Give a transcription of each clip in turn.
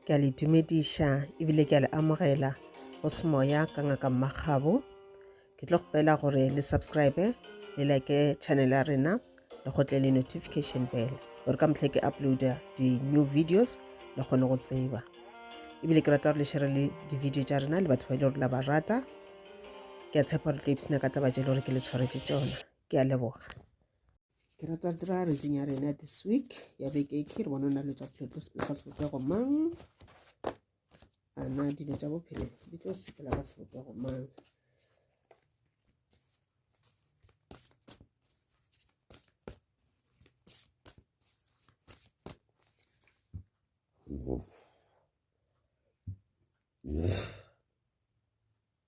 ke a le dumediša ebile ke a le amogela go semoya ka ngaka mmagabo ke tlo kgopela gore le subscribe le like channel ya rena le gotle le notification bell gore ka motlhe ke uploada di-new videos le kgone go tseba ebile ke rata gore le shere le di-video tša rena le batho ba e le gore la ba rata ke a tshepa gore tlo ipsena ka taba tše e le gore ke le tshwaretse tsona ke a leboga ke rata re dira reading ya rena this week ya beke ke re bona o na le tsa bophelo tlo sepela ka sebopego mang ana dilo tsa bophelo di tlo sepela ka sebopego mang Yeah.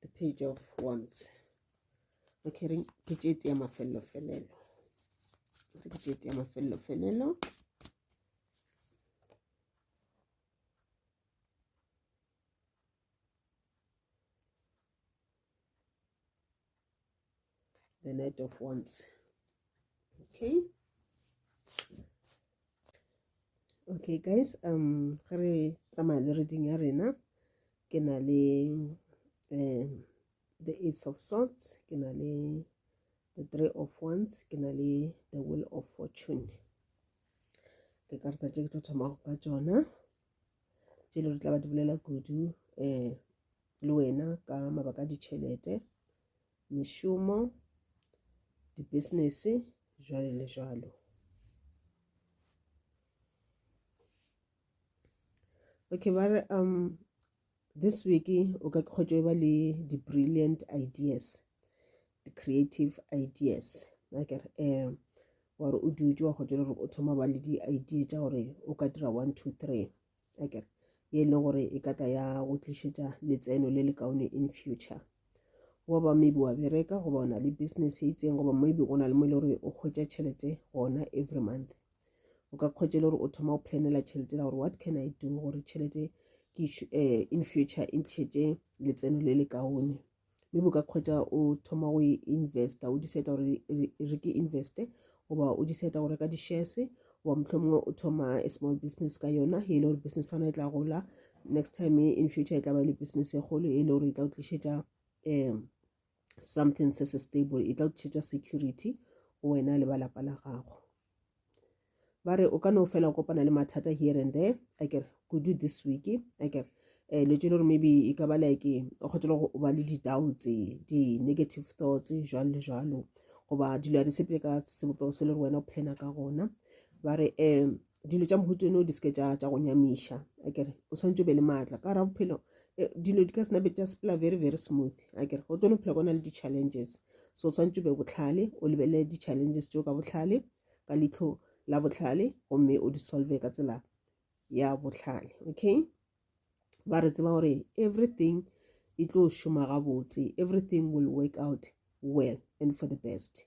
the page of wands okay re ke tšete ya mafelelo felelo re ke tšete ya mafelelo felelo the knight of wands okay okay guys um ge re tsamaya le reading ya rena ke na le um the ace of swords ke na le the three of wands ke na le the will of fortune ke karata tše ke tlo thoma go ka tsona tše le re tla ba di bolela kudu um le wena ka mabaka a ditšhelete mešomo dibusinesse jwale le jwalo okay ba re um This week o ka kgotšo e ba le di-brilliant ideas di-creative ideas akere um wa re o dutse wa kgotšo le gore o thoma ba le di-idea tša gore o ka dira one two three akere ye e leng gore e ka tla ya go tlišetša letseno le le kaone in future wa ba maybe wa bereka goba o na le business e itseng goba maybe o na le mo e le gore o kgwetša tšhelete gona every month o ka kgwetša le gore o thoma o planela tšhelete la gore what can i do gore tšhelete ke um in future e ntlišetse letseno le le kaone mme bo ka kgwetša o thoma go e investa o diseta gore re ke investe goba o diseta go reka di-shares goba motlho mongwe o thoma a small business ka yona e le gore business yona e tla gola next time in future e tla ba le business e kgolo e le gore e tla o tlišetša um something se se stable e tla o tlišetša security go wena le ba lapa la gago ba re o ka no fela o kopana le mathata here and there a kere kudu this week a kere um dilo tse le gore maybe e ka ba like o kgotse le go ba le di-doubts di-negative thoughts jalo le jalo goba dilo ya di sepele ka sebopego se le gore wena o plana ka gona ba re um dilo tša mohuto eno di seke tša go nyamiša a kere o tshwanetse o be le maatla ka ra bophelo eh, dilo di ka sena be tša sepela very very smooth a kere go tone phela kona le di-challenges so o swantse be botlhale o lebelele di-challenges teo ka botlhale ka leitlho la botlhale gomme o di solve ka tsela ya botlhale okay ba re tseba gore everything e tlo šoma gabotse everything will work out well and for the best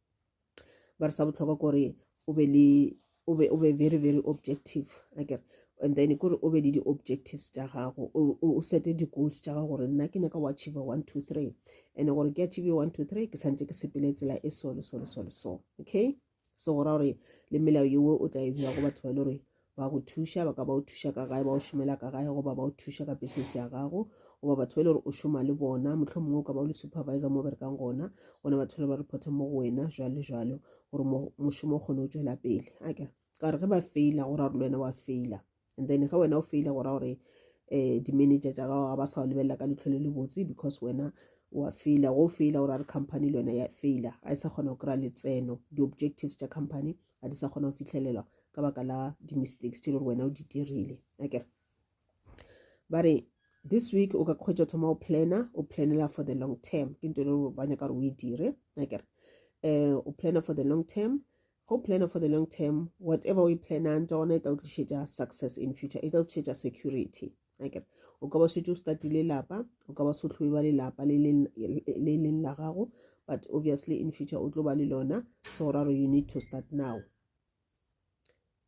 ba re sa botlhokwa kore o be le o be o be very very objective akere and then kore o be le di-objectives tša gago o sete di-goals tša gago gore nna ke nyaka go achieve one two three and gore ke achieve one two three ke santse ke sepele tsela e so le so le so le so okay so go ra gore le melao yewo o tla e bja go batho ba e le gore ba go thuša ba ka ba o thuša ka gae ba o šomela ka gae goba ba o thuša ka business ya gago goba batho ba e le gore o šoma le bona motlho mongwe o ka ba o le supervisor mo berekang gona gona batho le ba reporta mo go wena jalo le jalo gore mošomo o kgone o tswela pele a kere ka gore ge ba faila go raya gore le wena wa faila and then ge wena o faila go raya gore um di-manager tša gago ga ba sa o lebelela ka letlho le le botse because wena wa faila go faila gore a re company le yone ya faila ga e sa kgona go kry-a letseno di-objectives tša company ga di sa kgona go fitlhelelwa ka baka la di-mistakes tse le gore wena o di dirile akere ba re this week o ka kgwetsa thoma o planner o planela for the long term ke nto le gore ba nyaka gore o e dire akere um o planner for the long term go planner for the long term whatever o e plannang tsone e tla o tlišetša success in future e tla o tlišetša security akere o ka ba swetse o statile lapa o ka ba sotlhobe ba lelapa le leng la gago but obviously in future o tlo ba le lona so go raro you need to start now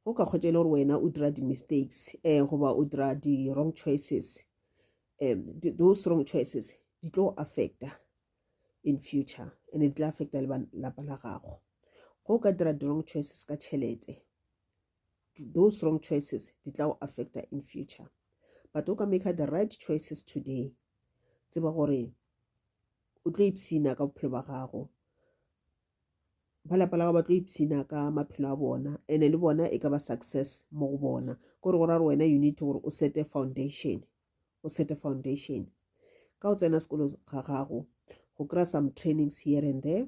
go ka kgwetsa e le gore wena o dira di-mistakes um goba o dira di-wrong choices um those wrong choices di tlo affecta in future and di tla affecta le lapa la gago go ka dira di-wrong choices ka tšhelete those wrong choices di tla go affecta in future but o ka maker the right choices today tseba gore o tlo ipsina ka bophelo ba gago ba lapa la gago ba tlo ipsina ka maphelo a bona ene le bona e ka ba success mo go bona kore go ra gore wena you need gore o sete foundation o sete foundation ka o tsena sekolo ga gago go kry-a some trainings here and there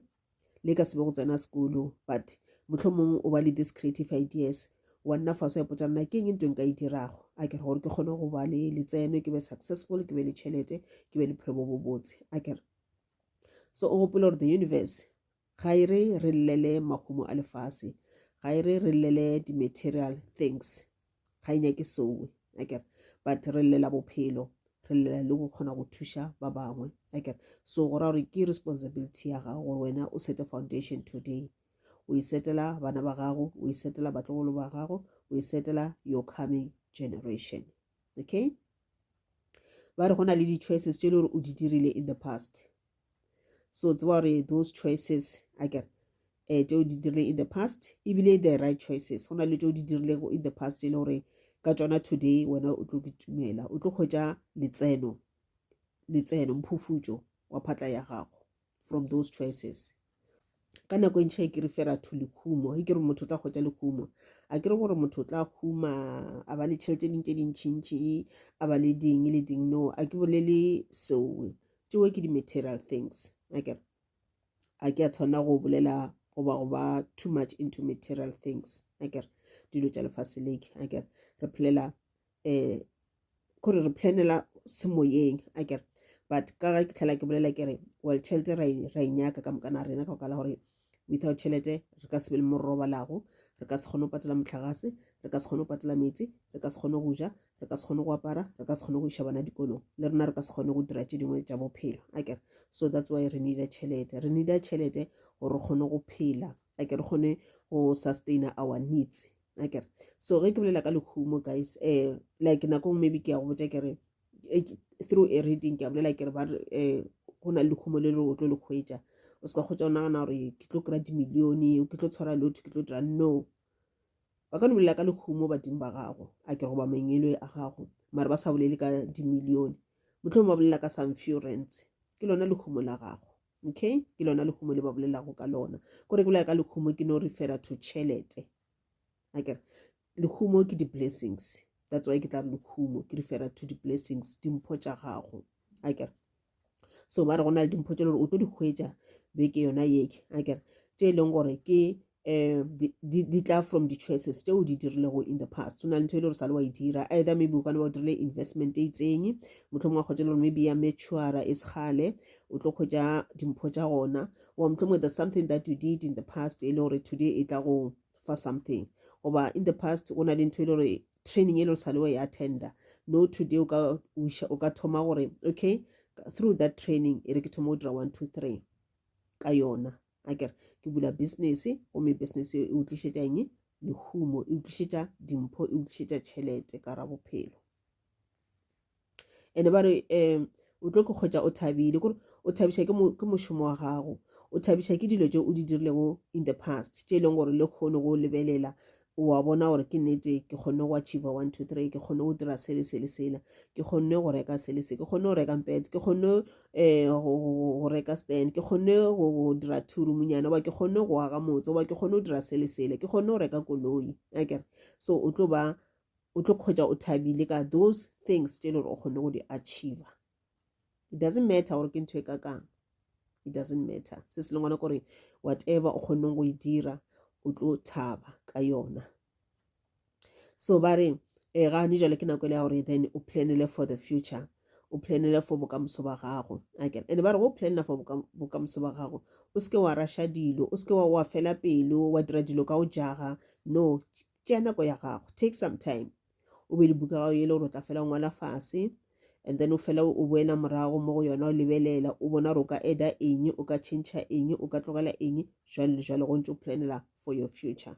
le ka sebe go tsena sekolo but motlho mongwe o ba le this creative ideas wa nna faso ya potsa nna ke eng ntweng ka e dirago a kere gore ke kgone go ba le letseno ke be successful ke be le tšhelete ke be le phelo bo bobotse a kere so o gopole gore the universe Ga e re re llele mahumo a lefase. Ga e re re llele di-material things. Ga e nyake sowe. Akere? But re llela bophelo. Re llela le go kgona go thuša ba bangwe. Akere? So go ra gore ke responsibility ya gago gore wena o sete foundation today. O e setela bana ba gago, o e setela batlogolo ba gago, o e setela your coming generation. Okay? Ba re go na le di-choices tše le gore o di dirile in the past. so tseba gore those choices a kere um tšeo di dirileng in the past ebile the right choices go na le tšeo di dirilego in the past e le gore ka tšona today wena o tlo kitumela o tlo kgwetsa letseno letseno mphufutšo wa phatla ya gago from those choices ka nako e ntšha e kere fela to lekhumo e kere motho o tla kgotsa lekhumo a kere gore motho o tla khuma a ba le tšhelete ding tse dintšhintšhi a ba le ding le ding no a ke bolele seo tšeo ke di-material things akere a ke a tshwanela go bolela goba go ba too much into material things akere dilo tša lefase leke akere re phelela um kore re planela semoyeng a kere but ka ga ke tlhela ke bolela ke re well tšhelete ra e nyaka ka mokana rena ka okala gore without tšhelete re ka se be le mo re robalago re ka se kgone go patela motlhagase re ka se kgone go patela metsi re ka se kgone go ja re ka se kgone go apara re ka se kgone go iša bana dikolong le rena re ka se kgone go dira tše dingwe tša bophelo a kere so that's why re needa tšhelete re needa tšhelete gore re kgone go phela a ke re kgone go sustaina our needs akere so ge ke bolela ka lehumo guys um like nako ngwe maybe ke ya go botja kere eh, through a reading ke a bolela kere ba re um go na le lehumo le le o tlo le kgwetsa o se ka kgwetsa o nagana gore ke tlo kry-a dimilione ke tlo tshwara lotho ke tlo dira no ba ka no bolela ka lehumo badimo ba gago a ke goba mangelo a gago mare ba sa bolele ka dimilione motlhong ba bolela ka some few rents ke lona lehumo la gago okay ke lona lekhumo le ba bolelago ka lona kore bolela ka lekhumo ke no refera to tšhelete akere lekhumo ke di-blessings that's why ke tla re lekhumo ke refera to di-blessings dimpho tša gago akere so ba re go na le dimpho tse le gore o tlo di hwetša beke yona yeke akere tše e leng gore ke eh, di, di, di tla from di-choices tse o di dirilego in the past o na le ntho e le gore sa le wa e dira either maybe o kana ba o dirile investment e itseng motlho mongwe kgwetsa le gore maybe ya matura e segale o tlo kgwetsa dimpho tsa gona goba motlho mongwe there's something that you did in the past e le gore today e tla go fa something goba in the past go na le ntho e le gore training e le gore sa le wa e attenda no today o ka o ka thoma gore okay through that training e re ke thoma go dira one two three ka yona a kere ke bula business gomme business e o tlišetša eng lehumo e utlwišetša dimpho e utlwišetša tšhelete ka ra bophelo ene ba re um o tlo ke kgwetsa o thabile kore o thabiša ke mošomo wa gago o thabiša ke dilo tse o di dirilego in the past tše e leng gore le kgone go lebelela o a bona gore ke nete ke kgonne go achieva one two three ke kgonne go dira sele sele sela ke kgonne go reka sele se ke kgonne go reka mpet ke kgonne um go reka stand ke kgonne go dira two roomnyana goba ke kgonne go aga motse goba ke kgonne go dira sele sele ke kgonne go reka koloi akere so o tlo ba o tlo kgwetsa o thabile ka those things tse e le gore o kgonne go di achieva it doesn't matter gore ke ntho e ka kang it doesn't matter se se lengwana kore whatever o kgonneng go e dira o tlo thaba ka yona so ba re e eh, gane jale ke nako e le ya gore then o planele for the future o planele for bokamoso ba gago akere and ba re go planela for bokamoso ba gago o seke wa rasha dilo o seke wa fela pelo wa dira dilo ka go jaga no tšea nako ya gago take some time o be le buka gago yele gore o tla fela ngwala fase and then o fela o boena morago mo go yona o lebelela o bona gore o ka eda eng o ka change eng o ka tlogela eng jwale le jwale go ntse o planela for your future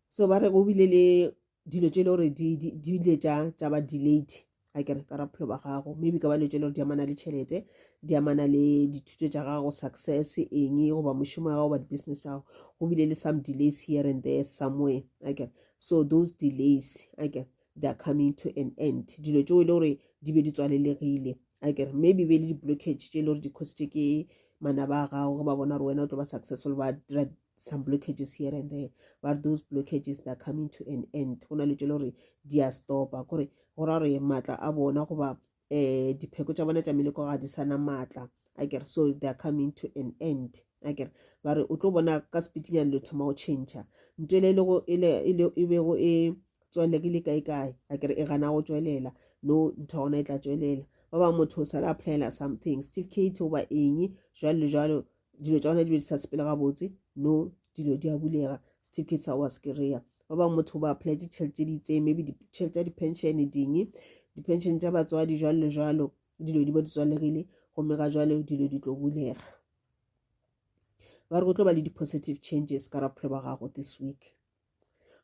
so ba re go bile le dilo tse e le gore di bile tša ba delayed a kere ka raphelo ba gago maybe ka ba letse le gore di amana le tšhelete di amana le dithuto tša gago success eng goba mošomo ya gago ba di-business tša gago go bile le some delays here and there somewhere a kere so those delays a kere they are coming to an end dilo tseo e le gore di be di tswalelegile a kere maybe be le di-blockage tše e le gore di-cositše ke manaba a gago ge ba bona gore wena o tlo ba successful ba dira some blockages here and there but those blockages they're coming to an end go na le tšele gore di a stopa kore go ra gore maatla a bona goba um dipheko tša bona tša meleko ga di sana maatla a kere so they're coming to an end a kere ba re o tlo bona ka sepitinyane le thoma go change nto ele e bego e, e, e tswelele ke le kae kae a kere e gana go tswelela no ntho ya gona e tla tswelela ba bangwe motho o sala applyela something steve kate goba eng jalo le jalo dilo tša gona di be di sa sepele gabotse no dilo di a bulega certificate sa wa se kry-a ba bangwe motho ba apply ditšhelete tse di itseng maybe ditšhelete tša di-pension ding di-pension tša batswadi jalo le jalo dilo di ba di tswalegile gomme ga jalo dilo di tlo bulega ba re go tlo ba le di-positive changes ka ra bophelo ba gago this week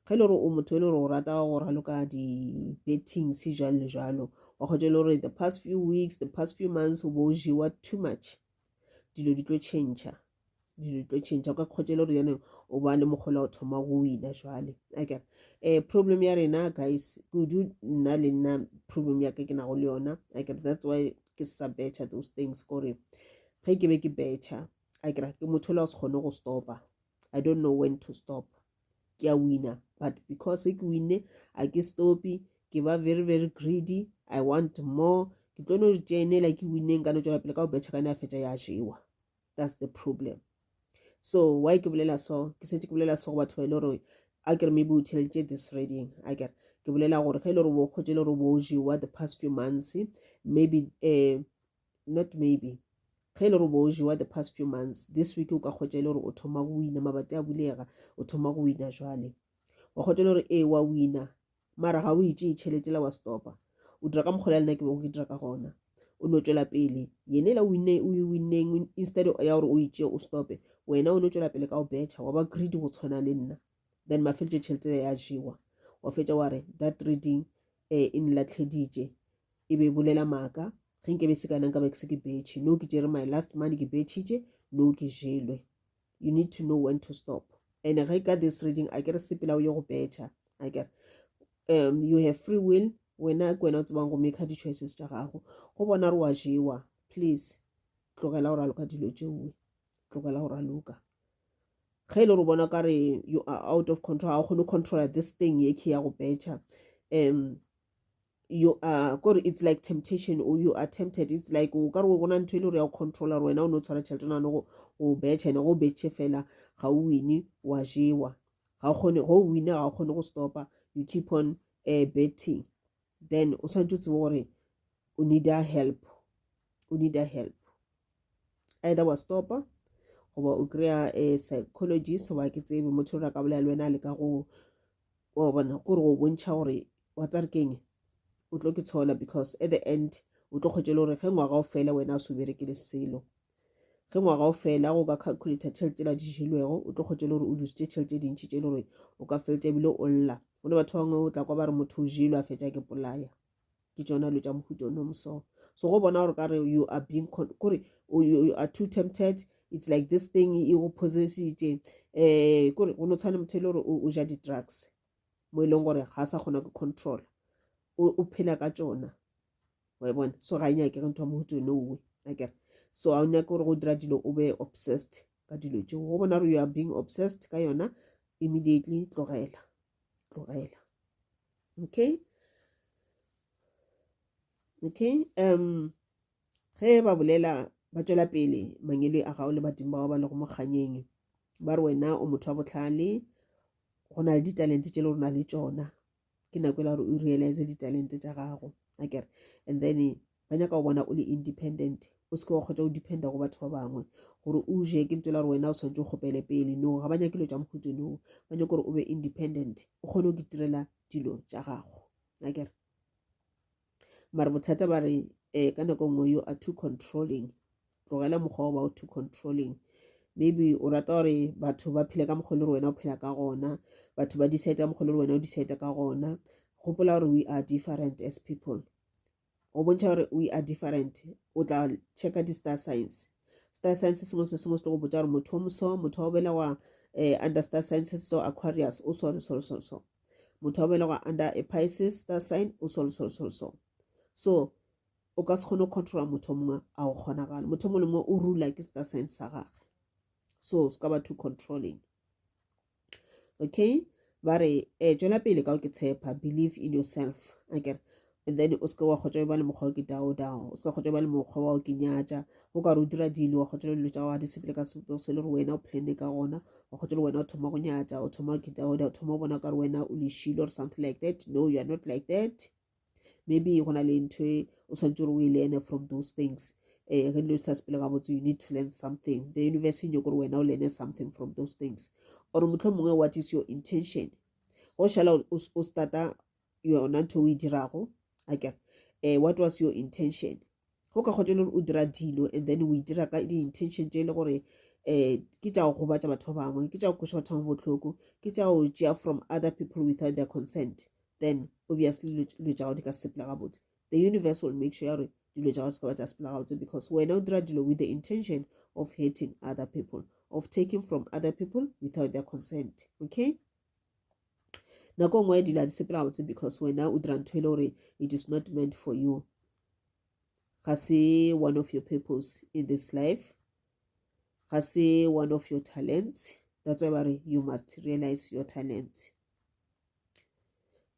ge e le gore o motho e le gore o rata wa go raloka di-bettings jalo le jalo wa kgotsa e le gore the past few weeks the past few months o bo o jewa too much dilo di tlo change dilo di tlo change o ka kgotsa e le gore yaneng o ba le mokgola o thoma go wina jale akere um problem ya rena guys kudu nna le nna problem ya ka ke nago le yona akere that's why ke sa betcha those things kore ge ke be ke betcha akere ke motho o la o se kgone go stopa i don't know when to stop ke a wina but because ke winne a ke stopi ke ba very very greedy i want more ke tlo no tšenela ke winneng ka no tšwela pele ka go betšha ka ne a fetša ya jewa that's the problem so why ke bolela so ke setse ke bolela so go batho ba e le gore a kere maybe o theleditše this reading a kere ke bolela gore ge e le gore bo kgotse e le gore bo jewa the past few months maybe um not maybe ge e le gore bo jewa the past few months this week o ka kgotsa e le gore o thoma go wina mabati a bulega o thoma go wina jwale wa kgotsa e le gore ee wa wina mara ga o itse e tšhelete la wa stopa o dira ka mokgwa le nna ke bego ke dira ka gona o no tswela pele yene la winne o e winneng instead ya gore o itse o stope wena o no tswela pele ka go betšha wa ba greedy go tshwana le nna then mafeletse tšhelete ya jewa wa fetsa wa re that reading um e nlatlheditše e be e bolela maaka ge nke be se kana nka be ke se ke betšhe no ke jere my last money ke betšhitše no ke jelwe you need to know when to stop and ge ka this reading a ke re sepela o ye go betšha a ke re um you have free will wena ke wena o tsebang go make di-choices tša gago go bona re wa jewa please tlogela gore a loka dilo tšeoe tlogela gore a loka ge e le gore bona ka re you are out of control ga o kgone controla this thing ye ke ya go betšha um you are kore it's like temptation or you are tempted it's like o ka re go gona ntho e le gore ya go controller gore wena o ne o tshwara tšhelete nane go o betšha ene go o betšhe fela ga o wine wa jewa ga o kgone go o wine ga o kgone go stopa you keep on uh, betting then o tshwanetse o tsebe gore o need a help o need a help either wa stopa goba o kry-a a eh, psychologist goba ke tsebe motho o re a ka bolela le wena le ka go wa bona ko re go bontšha gore wa tsa re keng o tlo ke tshola because at the end o tlo kgwetše le gore ge ngwaga o fela wena a se o berekele selo ge ngwaga o fela go ka calculator tšhelete la di jelwego o tlo kgwetše le gore o lusitše tšhelete dintšhi tše le gore o ka feletša ebile o lla go le batho bangwe o tla kwa ba re motho o jelwe a fetša ke polaya ke tsona dilo tša mohuta o nomo so so go bona gore ka re you are being kore you are too tempted it's like this thing e go possessitše um eh, kore go no tshwane motho e le gore o ja di-drugs mo e leng gore ga sa kgona go control o phela ka tsona wa e bona so ga e nyake ge ntho ya mohuta one owe akere so a o nyake gore go dira dilo o be obsessed ka dilo tšeo go bona gore you are being obsessed ka yona immediately tlogela tlogela okay okay um ge ba bolela ba tšwela pele mangele a gago le badimo bao ba lego mokganyeng ba re wena o motho wa botlhale go na le ditalente tše le rona le tšona ke nako e la gore o realize ditalente tša gago akere and then ba nyaka go bona o le independent o seke wa kgotsa o dependa go batho ba bangwe gore o je ke ntse la gore wena o tshwanetse o kgopele pele no ga ba nyake dilo tša mohuto no ba nyake gore o be independent o kgone go itirela dilo tša gago akere mare bothata ba re um ka nako nngwe you are too controlling tlogela mokgwa o ba o too controlling maybe o rata gore batho ba phele ka mokgwa le gore wena o phela ka gona batho ba decide ka mokgwa le gore wena o decide ka gona gopola gore we are different as people go bontšha gore we are different o tla checka di-star science star science se sengwe se sengwe se tlo go botsa gore motho o moso motho wa belegwa um eh, under star science se so aquarius o so le so le so le so motho wa belegwa under a pisces star sign o so le so le so le so so o ka se kgone go controla motho mongwe a go kgonagale motho mongwe le mongwe o rula ke star sign sa gage so se ka ba too controlling okay ba re um tšwela pele ka o ke tshepa believe in yourself akere and then o seke wa kgotsa ba le mokgwa o ke dao dao o seke kgotsa ba le mokgwa wa o ke nyatša o ka re o dira dilo wa kgotsa dilo tša wa di sepele ka sepo se le gore wena o plane ka gona wa kgotsa le wena o thoma go nyatša o thoma ke dao dao o thoma go bona ka re wena o lešilo or something like that no you are not like that maybe go na le ntho e o tshwanetse gore o e learne from those things um ge dilo di sa sepele gabotse you need to learn something the university nyoko gore wena o learne something from those things or motlho mongwe what is your intention go šala o starta yona ntho o e dirago akere um eh, what was your intention go ka kgotsa e le gore o dira dilo and then o e dira ka di-intention tše e le gore um ke tša go gobatša batho ba bangwe ke tša go kweša batho ba bangwe botlhoko ke tša go tšea from other people without their consent then obviously dilo tša gago di ka sepela gabotse the universe will make sure ya gore dilo tša gago se ka ba tša sepela gabotse because wena o dira dilo with the intention of hurting other people of taking from other people without their consent okay nako nngwe dilo di sepela botse because wena o dira ntho e le gore it is not meant for you ga se one of your purpose in this life ga se one of your talents that's why ba re you must realize your talent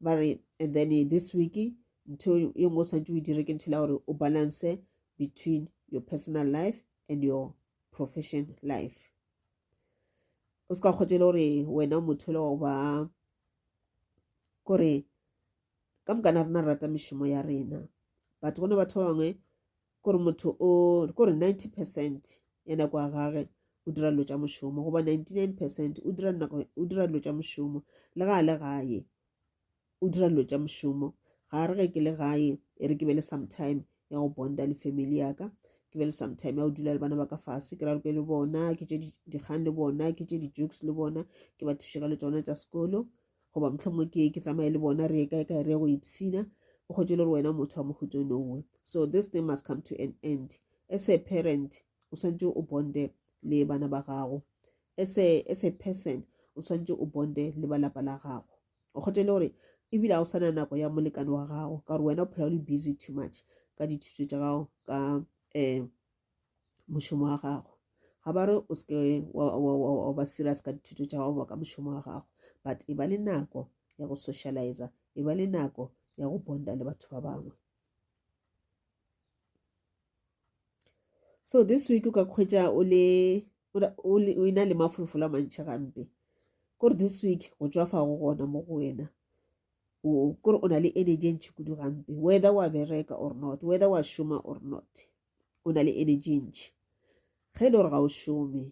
ba re and then this week ntho e nngwe o santse o e dire ke ntho e la gore o balance between your personal life and your profession life o se ka kgotšele gore wena motho le wa ba kore ka moka na rena rata mešomo ya rena batho gona batho ba bangwe kore motho o kore 90 percent ya nako ya gage o dira dilo tša mošomo goba 99 percent o dira dilo tša mošomo le ga a le gae o dira dilo tša mošomo ga re ge ke le gae e re ke be le sometime ya go bonda le family yaka ke be le sometime ya go dula le bana ba ka fase ke raloke le bona ke tše dikgang le bona ke tše di-jokes le bona ke ba thuše ka le tsona tša sekolo goba mohlomong ke ke tsamaye le bona re ye kae kae re ye go ipsina o kgotse le gore wena motho wa mohuto nowe so this thing must come to an end as a parent o swantse o bonde le bana ba gago As a, as a person, o swanetše o bonde le ba lapa la gago. O kgothe le gore ebile ga o sana nako ya molekane wa gago ka gore wena o phela o le busy too much ka dithuto tša gago ka um mošomo wa gago ga ba re o seke wa ba serious ka dithuto tša gago ka mošomo wa gago but e ba le nako ya go socializa e ba le nako ya go bonda le batho ba bangwe so this week o ka kgwetša o le o ina le mafolofolo a mantšhi gampe kore this week go tswa fa go gona mo go wena kore o na le energy e ntšhi kudu gampe whether wa bereka or not whether wa šoma or not o na le energy e ntšhi ge e le gore ga o šome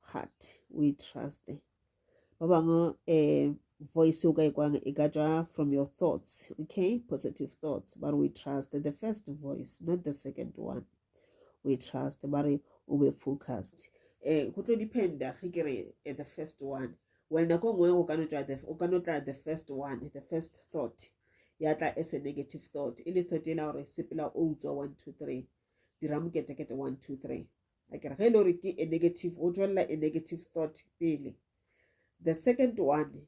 heart o e truste ba bangwe um voice o ka ikwang e ka tswa from your thoughts okay positive thoughts ba re o e truste the first voice not the second one o e truste ba re o be focused um go tlo dependa ge ke re eh, the first one well nako nngwe o ka no tla the first one the first thought ya tla as a negative thought e le thought e la gore sepela o utswa one two three dira moketekete one two three a kere ge e le gore ke a negative o tšwelela a negative thought pele the second one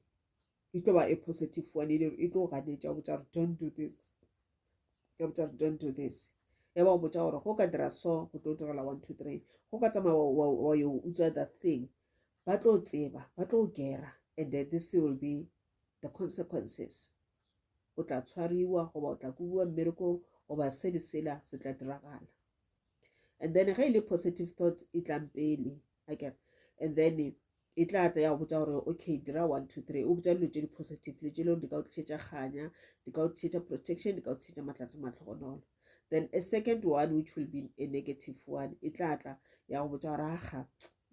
e tlo ba a positive one e le gore e tlo ganetša botša gore don't do this ya botša gore don't do this ya ba botša gore go ka dira so go tlo direla one two three go ka tsamaya wa yo utswa that thing ba tlo tseba ba tlo gera and then this will be the consequences o tla tshwariwa goba o tla kubiwa mmerekong goba se le sela se tla diragala and then ge e le positive thoughts e tlang pele akere and then e tla tla ya go botsa gore okay dira one two three o botsa dilo tse di-positive dilo tse leng di ka o tlisetsa kganya di ka o tlisetsa protection di ka o tlisetsa matlase matlhogonolo then a second one which will be a negative one e tla tla ya go botsa gore aga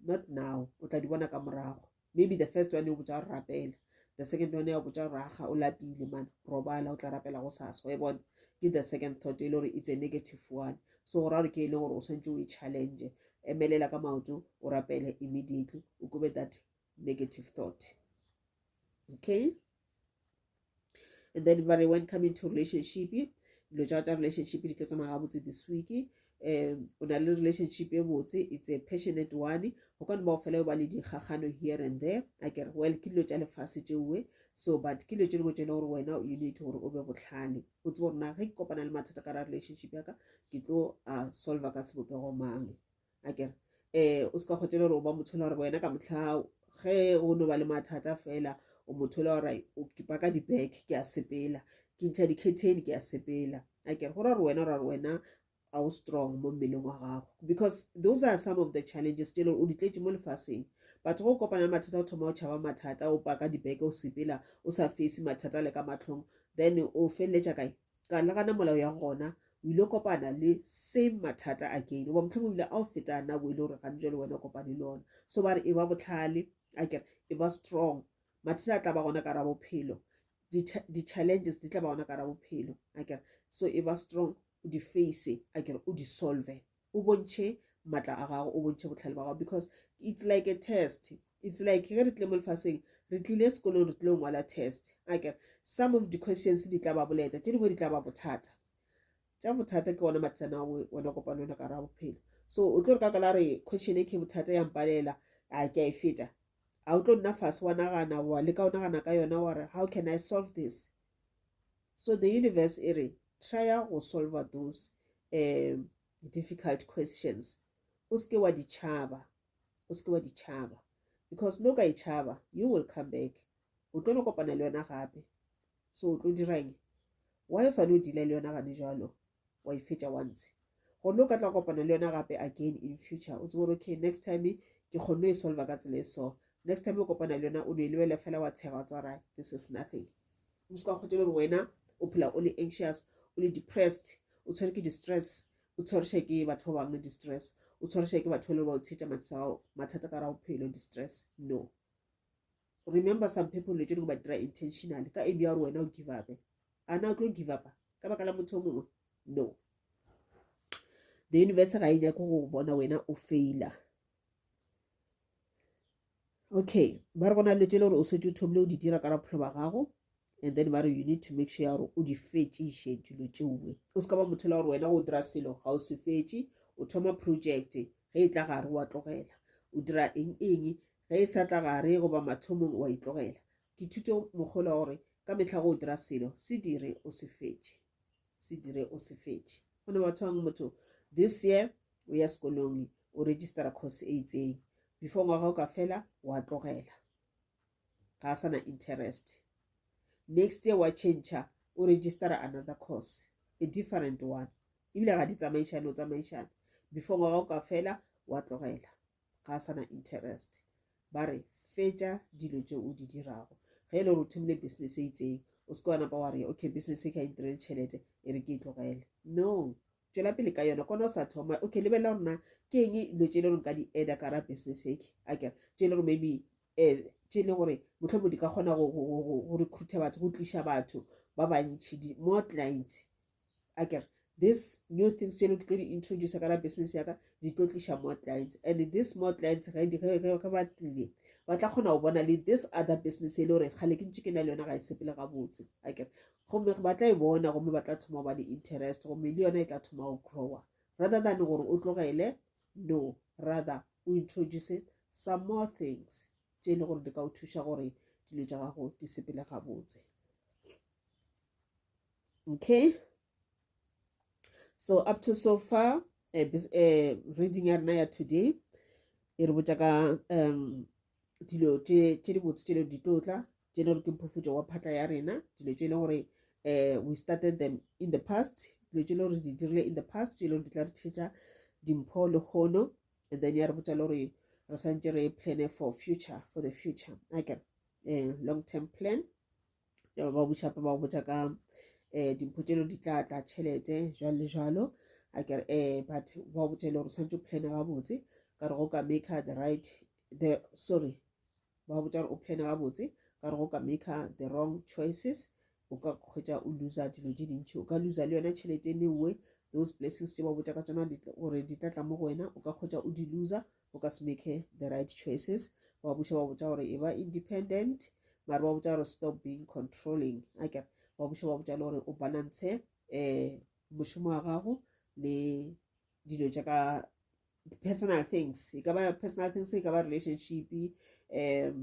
not now o tla di bona ka morago maybe the first one e botsa gore rapela the second one ya botsa gore aga o lapile mana robala o tla rapela go sasa wa e bona ke the second thought e le gore it's a negative one so go ra gore ke e leng gore o tshwanetse o e challenge emelela ka maoto o rapele immediately o kobe that negative thought okay and then ba re when come into relationship dilo tsa ta relationship di tlo tsamaya gabotse this week um o na le relationship e botse it's a passionate one go ka nba go fela ba le dikgagano here and there a ke re well ke dilo tsa lefase tšeoe so but ke dilo tse dingwe tse e le gore wena you need gore o be botlhale o tsebo gore na ge ke kopana le mathata ka ra relationship ya ka ke tlo a solver ka sebopego mang a kere um o se ka kgotse le gore o ba motho le gore wena ka motlha ge o no ba le mathata fela o motho le gore ke paka di-bag ke a sepela ke ntšha di-catene ke a sepela a kere go ra gore wena ra gore wena a o strong mo mmeleng wa gago because those are some of the challenges tse leng o di tletse mo lefaseng batho go kopana le mathata o thoma o tšhaba mathata o paka dibeke o sepela o sa fese mathata le ka matlhong then o feleletša kae Ka nagana molao ya gona o ile kopana le same mathata again goba mohlomong o ile a o feta nako e le gore gane jale wena o kopane le ona so ba re e ba botlhale a kere e ba strong mathata a tla ba gona ka ra bophelo di-challenges di tla ba gona ka ra bophelo a kere so e ba strong o di face a kere o di solve o bontšhe matla a gago o bontšhe botlhale ba gago because it's like a test it's like ge re tlile mo lefaseng re tlile sekolong re tlile ngwala test akere some of the questions di tla ba boleta tše dingwe di tla ba bothata tša bothata ke ona mathana ona kopano ona ka ra bophelo so o tlo re ka kala re question e ke bothata ya mpalela a ke a e feta a o tlo nna fase wa nagana wa leka o nagana ka yona wa re how can i solve this So the universe e re trya go solver those um difficult questions o seke wa di tšhaba o seke wa di tšhaba because no ka e tšhaba you will come back o tlo no kopana le yona gape so o tlo dirang why o swane o dila le yona gane jalo wa e fetša once gone o ka tla kopana le yona gape again in future o tsebo gore okay next time ke kgonne e solva ka tsela e so next time o kopana le yona o ne e lebele fela wa tshega wa tswara this is nothing o se ka kgotele gore wena o phela o le anxious o le depressed o tshwere ke distress o tshwarisha ke batho ba bangwe distress o tshwarisha ke batho ba le ba o tshetša mathata ka ra bophelo distress no remember some people le tšone go ba dira intentionally ka aim ya gore wena o give upe a na o tlo give upa ka baka la motho o mongwe no the universe ga e nyako go bona wena o faila okay ba re go na le tšele gore o setse o thomile o di dira ka rapholo ba gago and then ba re you need to make sure ya gore o di fetšiše dilo tšeoe o se ka ba motho la gore wena go dira selo ga o se fetše o thoma project ge e tla gare wa tlogela o dira eng eng Ge e sa tla gare goba mathomong wa itlogela. Dithuto mokgolo wa gore ka mehla go dira selo se dire o se fetše. Se dire o se fetše. Go ne batho bang motho this year o ya sekolong o registera course e itseng before ngwaga o ka fela wa tlogela ga a sana interest next year wa change o registera another course a different one ebile ga di tsamaišane o tsamaišane before ngwaga o ka fela wa tlogela ga a sa na interest ba re fetša dilo tše o di dirago ge e le gore o thomile business e itseng o seke wa napa wa re okay business e ka intirele tšhelete e re ke e tlogele no tšwela pele ka yona kona o sa thoma okay lebelela gore na ke eng dilo tše e le gore ka di eda ka ra business eke ake tše e le gore maybe um tše e le gore motlho mo di ka kgona go recruita batho go tliša batho ba bantšhi more clients a kere this new things tse lo ke tlo di introduce ka la business ya ka di tlo tliša more clients and this more clients ge ba tlile ba tla kgona go bona le this other business e le gore kgale ke ntse ke na le yona ga e sepele gabotse a kere gomme ba tla e bona gomme ba tla thoma go ba le interest gomme le yona e tla thoma go growa rather than gore o tlogele no rather o introduce some more things tse e le gore di ka o thuša gore dilo tša gago di sepele gabotse okay so up to so far uh, uh, reading ya rena ya today e re botša ka um dilo tše di botse tše le di tlo tla tše le gore ke mphofutšo wa phatla ya rena dilo tše e le gore um we started them in the past dilo tše e le gore di dirile in the past tše e le gore di tla re thetša dimpho le kgono and then ya re botša le gore re swantse re plane for future for the future ake um long term plan yaba ba botša ba botša ka um eh, dimpho tšelo di tla tla tšhelete jalo le jalo a kere um but ba botša e le gore tshwanetse o plane gabotse ka re go ka make the right the sorry ba botša gore o plane gabotse ka re go ka make the wrong choices o ka kgwetsa o loser dilo tše dintšhi o ka loser le yona tšhelete e newe those blessings tše ba botša ka tsona gore di tla tla mo go wena o ka kgwetsa o di loser o ka se make the right choices wa buša wa botša gore e ba independent mare wa botša gore stop being controlling a kere wa buša wa botša le gore o balance um eh, mošomo wa gago le dilo tša ka personal things e ka ba personal things e ka ba relationship um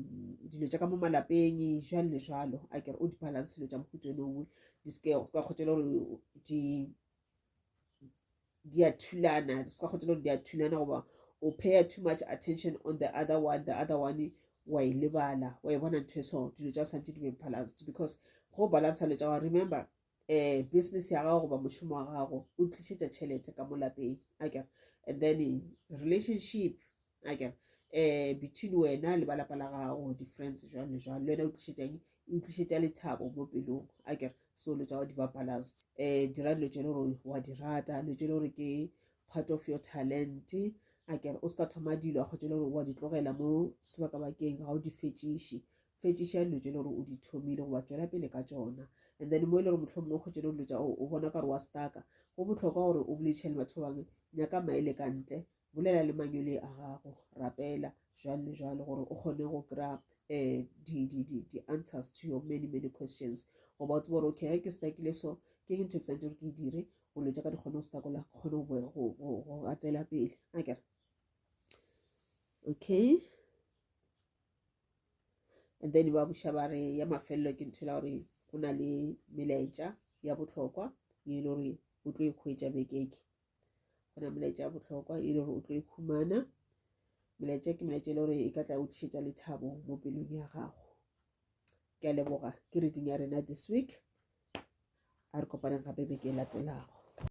dilo tša ka mo malapeng jalo le jalo a kere o di-balance dilo tša mohuto eno nngwe di seke ka kgotšele gore di di a thulana se ka kgotela gore di a thulana goba o paya too much attention on the other one the other one wa e lebala wa e bona ntho e so dilo tsa santse di be balanced because go balance dilo tsa gago remember um business ya gago goba mošomo wa gago o tlišetša tšhelete ka mo lapeng akere and then relationship a kere um between wena le ba lapa la gago di-friends jwang le jwang le wena o tlišetšang e utlwišetša lethabo mo pelong a kere so lo tsa go diba balanced um dira dilo tse le gore wa di rata dilo tse le gore ke part of your talent a kere o se ka thoma dilo a kgotse le gore wa di tlogela mo sebakabakeng ga o di fetšiše fetšiša dilo tse le gore o di thomile goba tswela pele ka tsona and then mo e le gore motlho mongwe kgotse le dilo tsa o bona ka gore wa staka go botlhokwa gore o boledišane batho ba bangwe nyaka maele ka ntle bolela le manyole a gago rapela jwalo le jwalo gore o kgone go kry-a um eh, di-answers to your many many questions goba o tsebo gore okay ge ke stakile so ke ke ntho ke santse gore ke e dire golo tša ka di kgone go stakola ke kgone go atela pele a kere okay and then ba buša ba re ya mafelelo ke ntho e la gore go na le melaetša ya botlhokwa e le gore o tlo e kgwetša bekeke go na molaetša ya bohlokwa e le gore o tlo e khumana molaetša ke molaetša e le gore e ka tla o tlišetša lethabo mo pelong ya gago ke a leboga ke reading ya rena this week a re kopaneng gape beke e latelago